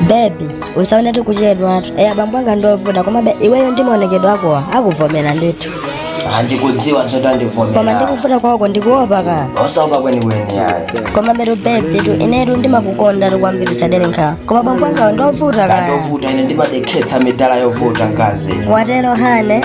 bebi usaone tikuchedwatu eya bambo anga ndiovuta komabe iweyo ndi maonekedwe akowa akuvomera ndithu andikudziwa zoti koma andivomera ndikuvuta kwako ndikuopa ka osaopa kwenikweni ayi koma betu bebi tu inetu ndimakukonda tu kwambiri usadere nkhawa koma bambo angawo ndiovuta kaya ndovuta ine ndimadekhetsa midala yovuta mkazi watero hane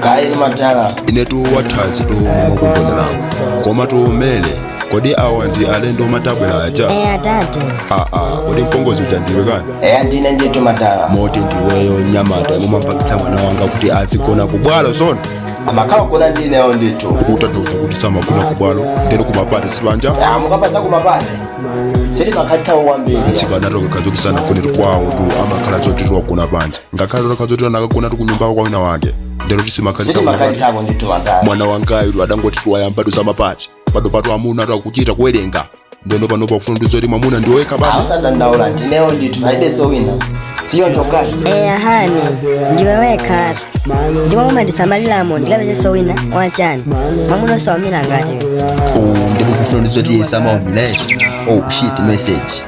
kaya ndi madala inetu wathanzi tu mukugondera koma tiumene kodi awa ndi alendo mwatibweretsera aja eya tate aa kodi mpongozi uja ndiwe kani eya ndine ndithu madala moti ndiweyo mnyamata yomwe mwampangitsa mwana wanga kuti azigona kubwalo zona amakhala kugona ndineyo ndithu ukutanthauza kuti samagona kubwalo ndeno kumapati sipanja Ah, mukamati kumapati sitimakhalitsako kwambiri chikanati zikhale zoti sanafune kwawo tu amakhala zoti wagona panja ngakhale utakhala zoti anakagona tu kunyumbako kwa wina wake ndeno kuti simakhalitsa kunyumba sitimakhalitsapo ndithu wazaa mwana wangayu adangoti wayambatu za mapati panopatu amunatu akuchita kuwerenga ndeno panopo akufuna kuti zoti mwamuna ndiwe wekha basi asadandaule ndineyo ndithu palibe zowina siyo mkazi eya hani ndiwe wekha ndipo umandisamaliramo ndikapezeso wina wachani mwamuna osamalira ngati Oh, ndipo kufuna kuti zoti yesama umilete oh shit message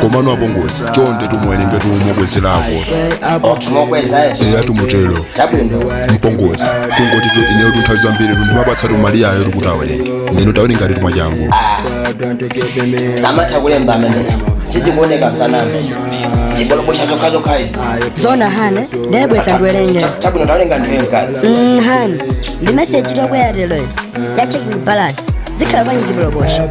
komano apongozi chonde tu muwerenge tu mukwezereko mokweza yesu eya tu mutero chabwino mpongozi kungoti tu ineyo tu nthawi zambiri tu ndimapatsa tu Maliyayo tu kuti awerenge ndino tawerenganitu mwachangu samatha kulemba amene sizikuoneka saname zibolobosha zokhazokha izi zona hane nde bweretsa ndiwerenge Cha- chabwino tawerenga ndiwe mkazi Mm, hane ndi meseji yobwera lero ya checking balance zikhala kwanyi zibolobosha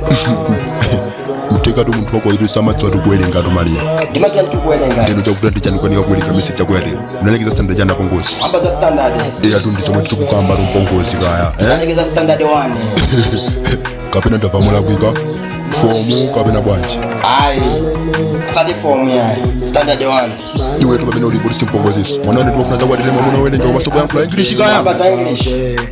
kuthekatu munthu wakoyitu samadziwa tu kuwerenga tu Maliya ndimadziwatu kuwerenga ndeno chavuta n'chani kukanika kuwerenga meseji yakeyi unalekeza standard chani mpongozi ambwana za standard ndeyatu ndisomwe tikukambatu mpongozi kaya eh? ndalekeza standard 1 kapena ndinamva muli kuti fomu kapena bwanji ayi sati fomu yayi standard 1 iwetu pamene ulipo tu si mpongoziso mwanane timafuna adzakwatire mwamuna wowerenga komanso kuyankhula english kaya amba za english